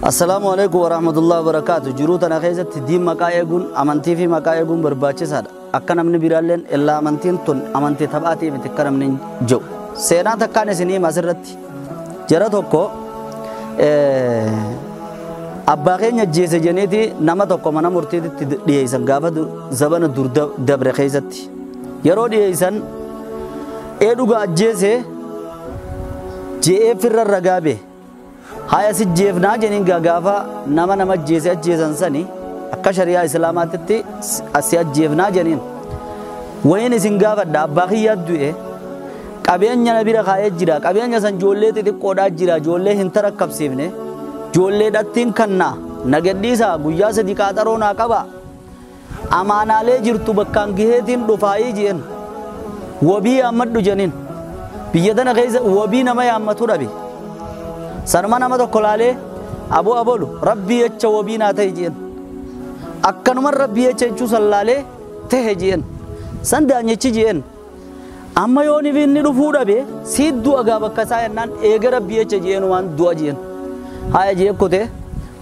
Assalaamu Aleykum Warahmatullahi Wabarakaatu jiruu tana keessatti diin maqaa eeguun amantii fi maqaa eeguun barbaachisaadha akka namni biraalleen illaa amantiin tun amantii taphaatii miti akka namni jedhu seenaa takkaan isin hima asirratti jara tokko abbaa keenya ajjeese jeniiti nama tokko mana murtiititti dhiyeessan gaafa zabana dur dabre keessatti yeroo dhiyeessan ee dhuga ajjeese je'ee firra ragaa bee Haya si jeefnaa jeniin gaa gaafa nama nama ajjeese ajjeesan sani akka shari'aa islaamaatitti si ajjeefnaa jeniin. Wayin isin gaafadha abbaa kiyyaa du'e qabeenya na bira kaa'ee jira qabeenya san joollee xixiqqoodhaa jira joollee hin tarakkabsiifne joollee dhattiin kanna na gadhiisa guyyaa sadi qaaxaroo naa qaba Amaanaalee jirtu bakkaan geheetiin dhufaayii je'en. Wabii yaammadhu je'aniin. Biyya tana keessa wabii nama yaammatu dhabe. Sanuma nama tokko laalee aboo abolu rabbii jecha wabii naa ta'i je'en. Akkanuman rabbii jecha jechuu san laalee tahe je'en. San daanyichi je'en. Amma yoo nibiinni dhufuu dhabe siit du'a gaa bakka isaa yennaan eega rabbii echa je'een waan du'a je'een. Haaya je'ee kotee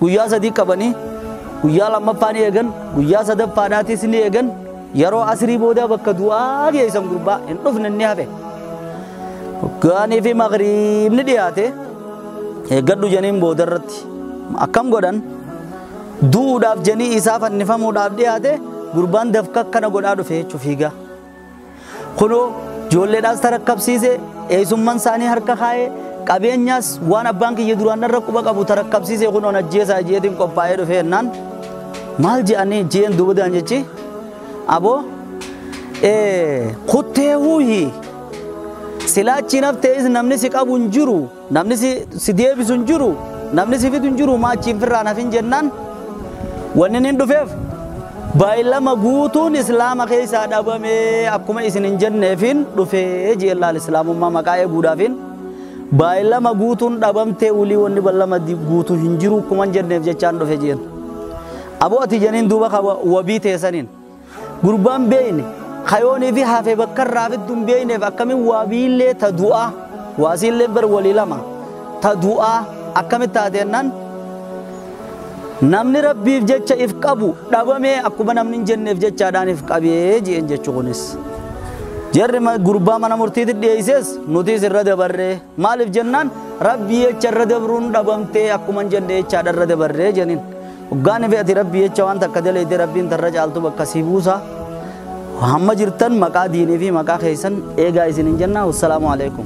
guyyaa sadii qabanii guyyaa lammaffaa ni eegan guyyaa sadaffaadhaatis ni eegan yeroo asirii boodaa bakka du'aa geessan gurbaa hin dhufne ni hafe. Gaanii fi magriibni dhiyaate eeggadhu janiin booda irratti akkam godhan du'uudhaaf janii isaa fannifamuudhaaf dhiyaate gurbaan dafka akkana godhaa dhufe jechuuf fiigaa. Kunoo ijoolleedhaas tarakkabsiise, eessumman isaanii harka kaa'ee, qabeenyaas waan abbaan kiyya duraan irra quba qabu tarakkabsiise kunoon ajjeesaa jeetiin qophaa'ee dhufee jennaan maal je'anii jeen duubadaan jechi aboo kuttee huuhi silaachi naftees namni si qabu hin jiru. Namni si, si deebisu hin jiru, namni si fidu hin jiru, maa achiin firraan hafin jennaan wanni nin dhufeef baay'ilama guutuun islaama keessaa dhabame akkuma isin hin jenneefin dhufee jeen laal islaamummaa maqaa eeguudhaafin baay'ilama guutuun dhabamtee ulii wanni ballama di- guutu hin jiru akkuma hin jenneef jechaan dhufe jeen. Aboo ati jeniin duuba ka wa- wabii teesaniin. Gurbaan beeyne kayoonii fi hafe bakka irraa fiddu hin beeyneef akkamiin waa biillee ta du'aa waasiillee bar walii lama ta du'aa akkamitti taateennan namni rabbiif jecha if qabu dhabamee akkuma namni hin jenneef jechaadhaan if qabee ji'een jechu kunis. Jarri gurbaa mana murtiitti dhiyeesses nutis irra dabarree. Maalif jennaan rabbii jecha irra dabruun dhabamtee akkuman jedhe jechaadha irra dabarree jenin. Hoggaan ife ati rabbii jecha waan takka daleeyde rabbiin tarra caaltu bakka si buusa. Hamma jirtan maqaa diinii fi maqaa keessan eegaa isinin jenna. Wassalaamu alaikum.